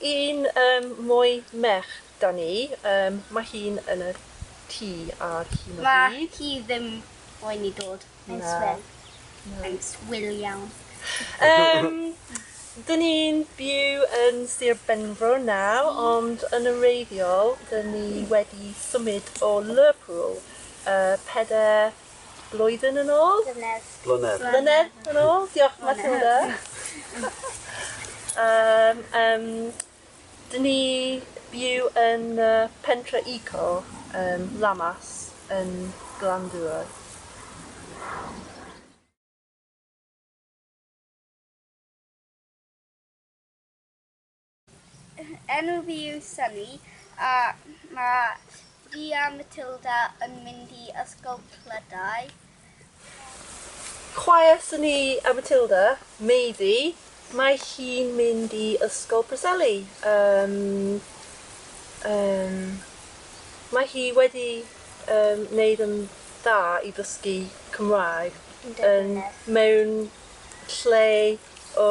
Un yym mwy merch da ni yym ma hi'n yn y tŷ ar hyn o bryd. Ma hi ddim moyn i dod. Mae'n swil. Na. Mae'n swil iawn. Yym dyn ni'n byw yn Sir Benfro naw ond yn wreiddiol dyn ni wedi symud o Lerpwl yy peder Blwyddyn yn ôl? Blynedd. Blynedd. Blynedd yn ôl. Diolch, Matilda. um, um, dyn ni byw yn uh, pentre eco, um, Lamas, yn Glandŵr. Enw fi yw Sunny a mae fi a Matilda yn mynd i ysgol Clydau. Chwaer Sunny a Matilda, Meifi, mae hi'n mynd i ysgol Preseli yym yym mae hi wedi yym neud yn dda i ddysgu Cymraeg yn mewn lle o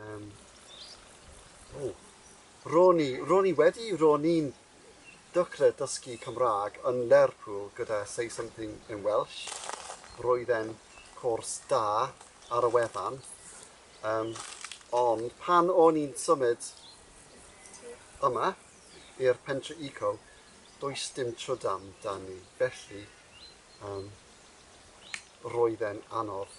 Um, oh. Ro'n i, ro'n i wedi, ro'n i'n dycre dysgu Cymraeg yn Lerpwl gyda Say Something in Welsh. Roedd e'n cwrs da ar y wefan. Um, ond pan o'n i'n symud yma i'r pentre eco, does dim trydam dan ni. Felly, um, roedd e'n anodd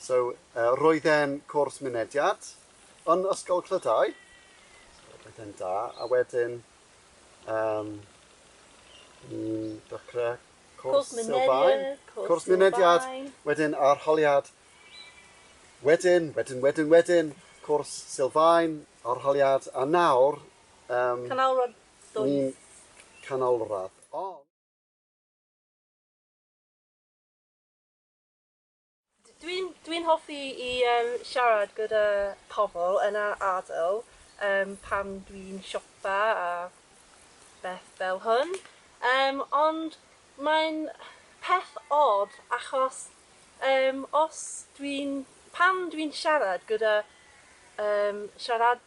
So, roedd e'n cwrs mynediad yn Ysgol Clydau, so roedd e'n da, a wedyn um, ni'n dechrau cwrs, cwrs sylfaen, cwrs mynediad, wedyn arholiad, wedyn, wedyn, wedyn, wedyn, cwrs sylfaen, arholiad, a nawr... Um, canolradd dwy. Ni'n canolradd. Oh. Dwi'n dwi'n hoffi i yym siarad gyda pobl yn yr ardal yym pan dwi'n siopa a beth fel hwn yym ond mae'n peth od achos yym os dwi'n pan dwi'n siarad gyda yym siarad-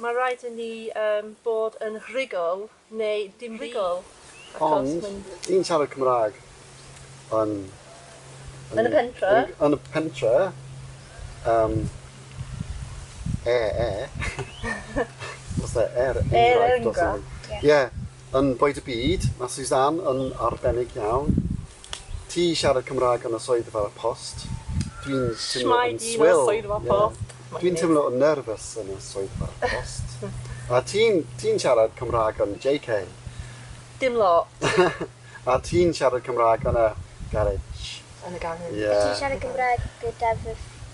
Mae rhaid i ni yym bod yn rhugl neu dim rhugl achos mae'n... Ond ti'n siarad Cymraeg yn... Yn y pentre? Yn y pentre yym e e os e er enghraifft os e... Ie. Yn bwyd y byd, mae Suzanne yn arbennig iawn. Ti siarad Cymraeg yn y swyddfa post. Dwi'n timlo yn swil. Shwmae yn y swyddfa post. Ie. Dwi'n timlo yn nerfus yn y swyddfa post. A ti'n, ti'n siarad Cymraeg yn JK. Dim lot. A ti'n siarad Cymraeg yn y garej. Yn y garej. Ie. A ti'n siarad Cymraeg gyda fy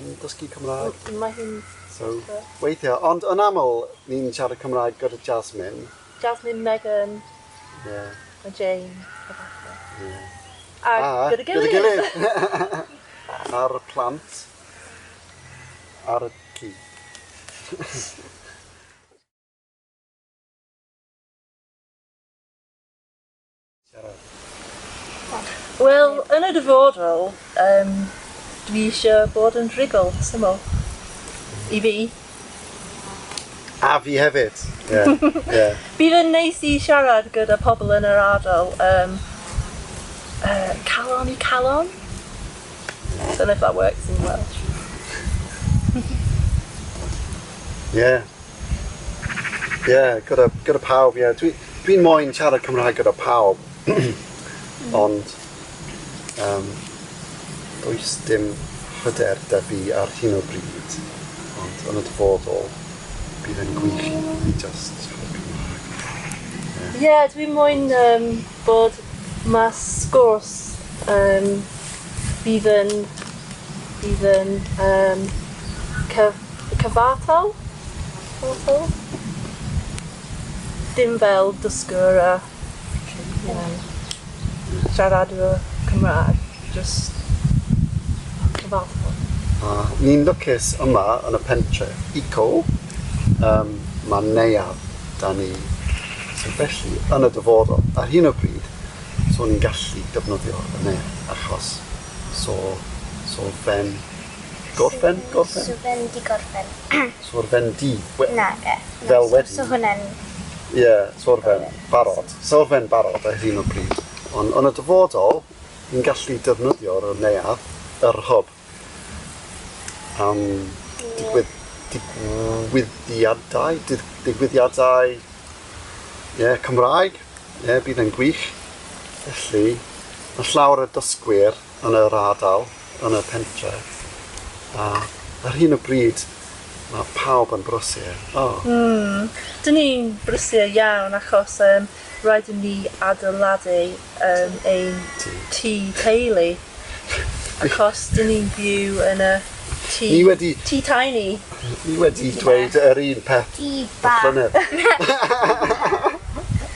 yn dysgu Cymraeg. M- mae hi'n... So, weithia'. Ond yn aml, ni'n siarad Cymraeg gyda Jasmine. Jasmine, Megan... Ie. ...a Jane a ballu. Ie. A gyda'i gilydd! A gyda'i gilydd! A'r plant ar y cyd. Wel, yn y dyfodol, um, dwi eisiau bod yn rhugl, syml. I fi. A fi hefyd. Yeah. yeah. Bydd yn neis i siarad gyda pobl yn yr ardal. Um, uh, calon i calon? I don't know if that works in Welsh. yeah. Ie, yeah, gyda, gyda pawb, ie. Yeah. Dwi'n dwi moyn siarad Cymraeg gyda pawb. Ond, um, does dim hyder da fi ar hyn o bryd. Ond yn y dyfodol, bydd yn gwych i fi just siarad Cymraeg. Ie, yeah. yeah, dwi'n moyn um, bod mae sgwrs um, bydd yn, bydd yn um, cyf, Cyfartal? Cyfartal? Dim fel dysgwr a you know siaradwr Cymrâg, jyst cyfartal. A ni'n lwcus yma yn y pentre, eco, yym ma'n neuadd 'da ni, so felly yn y dyfodol, ar hyn o bryd, so ni'n gallu defnyddio y neuadd achos so so fe'n Gorffen, gorffen. Swrfendi, gorffen. Swrfendi. We- Nage. Fel wedi. So hwnna'n... Ie, yeah, swrfen, barod. Swrfen barod ar hyn o bryd. Ond yn y dyfodol, ni'n gallu defnyddio yr neuadd, yr hub, am digwydd, digwyddiadau, digwyddiadau ie, yeah, Cymraeg, ie, yeah, bydd yn gwych. Felly, mae llawer o dysgwyr yn yr ardal, yn y pentref. A ar hyn o bryd, mae pawb yn brysur. Oh. Mm, dyn ni'n brysur iawn achos um, rhaid i ni adeiladu um, ein tŷ teulu. Achos dyn ni'n byw yn y tŷ, ni wedi, tŷ tiny. Ni wedi dweud yr un peth y llynedd.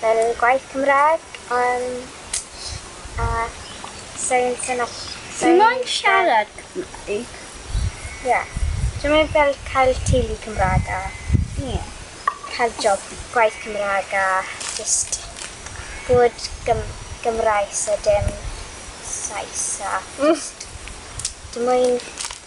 fel gwaith Cymraeg yym a sai'n sai'n o- sai'n... Ti moyn siarad Cymraeg? Ie. Dwi moyn fel cael teulu Cymraeg a... Ie. ...cael job gwaith Cymraeg a jyst bod Gym- Gymraes a dim Sais a jyst dwi moyn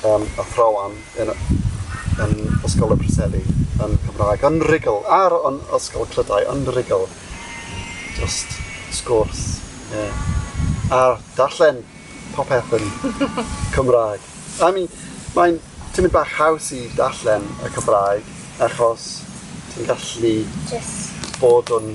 Yym, athrawon yn yn Ysgol y Preseli yn Cymraeg yn rugl ar yn Ysgol Clydau yn rugl. Jyst sgwrs. Ie. A darllen popeth yn Cymraeg. I mean mae'n tynnu bach haws i darllen y Cymraeg achos ti'n gallu... Jyst. ...bod yn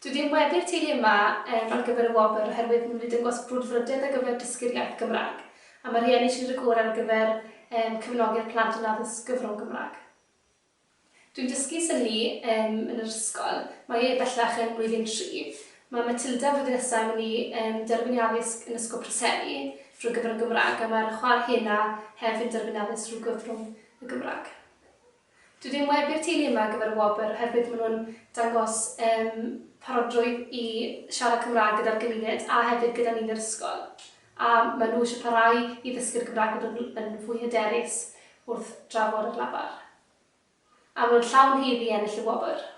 Dw i ddim wedi'r teulu yma yym ar gyfer y wobr oherwydd nid yn dangos brwdfrydedd ar gyfer dysgu'r iaith Gymraeg, a mae rhieni eisiau wneud y gorau ar gyfer yym cefnogi'r plant yn addysg gyfrwng Gymraeg. Dw i'n dysgu synnu yym yn yr ysgol, mae e bellach yn blwyddyn tri. Mae Matilda flwyddyn nesaf yn mynd i yym derbyn ei addysg yn Ysgol Preseli drwy gyfrwng Gymraeg a mae'r chwaer hena hefyd yn derbyn addysg drwy gyfrwng y Gymraeg. Dw i'n webu'r teulu yma ar gyfer y wobr oherwydd maen nhw'n dangos yym parodrwydd i siarad Cymraeg gyda'r gymuned a hefyd gyda ni'n yr ysgol. A maen nhw eisiau parhau i ddysgu'r Gymraeg a bod yn yn fwy hyderus wrth drafod ar lafar. A maen nhw'n llawn hudd i ennill y wobr.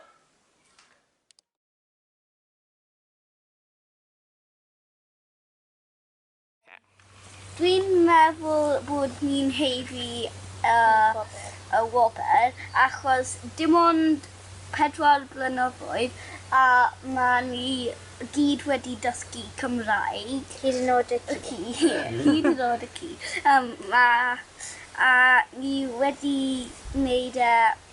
Dwi'n meddwl bod ni'n haeddu y wobr achos dim ond pedwar blynyddoedd a ma' ni gyd wedi dysgu Cymraeg. Hyd yn o'd y ci. Hyd yn o'd y ci. Yym a a ni wedi neud e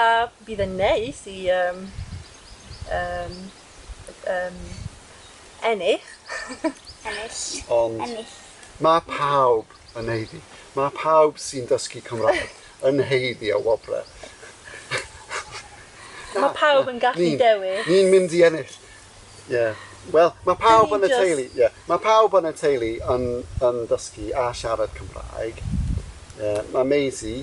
A bydd yn neis i yym yym yym ennill. Ennill. Ond... Ennill. Mae pawb yn haeddu. Mae pawb sy'n dysgu Cymraeg yn haeddu y wobrau. Mae pawb yn gallu dewis. Ni'n mynd i ennill. Ie. Wel, mae pawb yn y teulu, ie, mae pawb yn y teulu yn yn dysgu a siarad Cymraeg. Ie, mae Maisie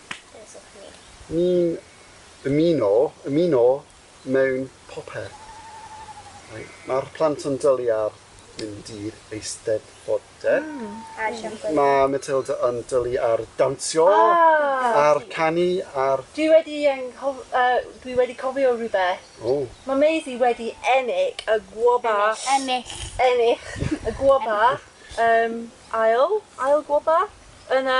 Ni'n ymuno, ymuno mewn popeth. Mae'r plant yn dwlu ar mynd i'r Eisteddfod, de? Mae Matilda yn dwlu ar dawnsio, ar canu, ar... Dwi wedi anghof- yy dwi wedi cofio rhywbeth. O! Mae Maisie wedi ennill y gwoba... Ennill. Ennill y gwoba yym ail, ail gwoba yn y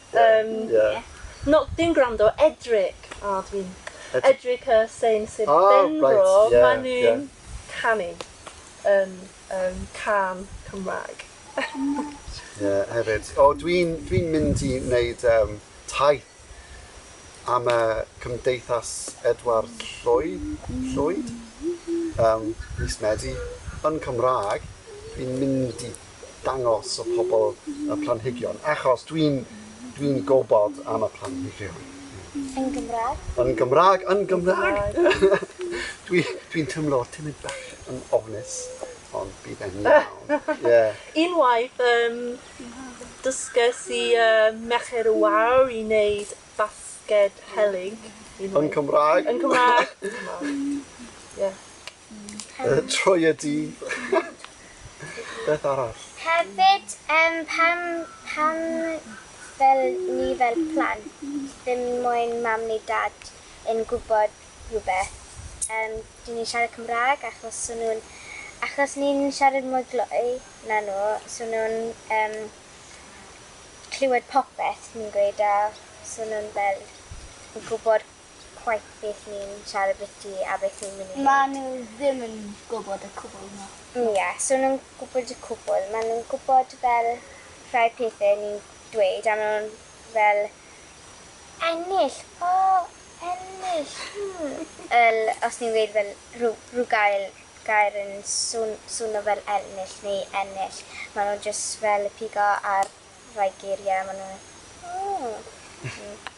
Yym. Ie. No, dim gwrando, edryg. O, dwi'n edryg y Sain Sir Benfro. O, reit, ie. Maen nhw'n canu yn yym cân Cymraeg. Ie, hefyd. O, dwi'n dwi mynd i wneud um, taith am y Cymdeithas Edward Llwyd, Llwyd, um, mis Medi, yn Cymraeg. Dwi'n mynd i dangos y pobl y planhigion, achos dwi'n dwi'n gwybod am y planhigion. Yn Gymraeg? Yn Gymraeg, yn Gymraeg! Dwi, dwi'n tymlo timid bach yn ofnus, ond bydd e'n iawn. Yeah. Unwaith, um, dysges i uh, Merched y Wawr i wneud basged helyg. Yn Cymraeg? Yn Cymraeg. yeah. Pen... Troi y di. Beth arall? Hefyd, um, pam, pam fel ni fel plant, ddim moyn mam neu dad yn gwybod rhywbeth. Um, dyn ni'n siarad Cymraeg achos so nhw'n... Achos ni'n siarad mwy glou na nhw, so nhw'n um, clywed popeth ni'n gweud a so nhw'n fel yn gwybod chwaith beth ni'n siarad biti a beth ni'n mynd i neud. Maen nhw ddim yn gwybod y cwbl na? Ie, so nhw'n gwybod y cwbl. Maen nhw'n gwybod fel rhai pethe ni'n dweud a maen nhw'n fel Ennill! O! Ennill! Hmm! Fel os ni'n weud fel rhyw rhyw gael gair yn swn- swno fel elnill neu ennill maen nhw jyst fel pigo ar rhai geirie a maen nhw fel, O! Hmm.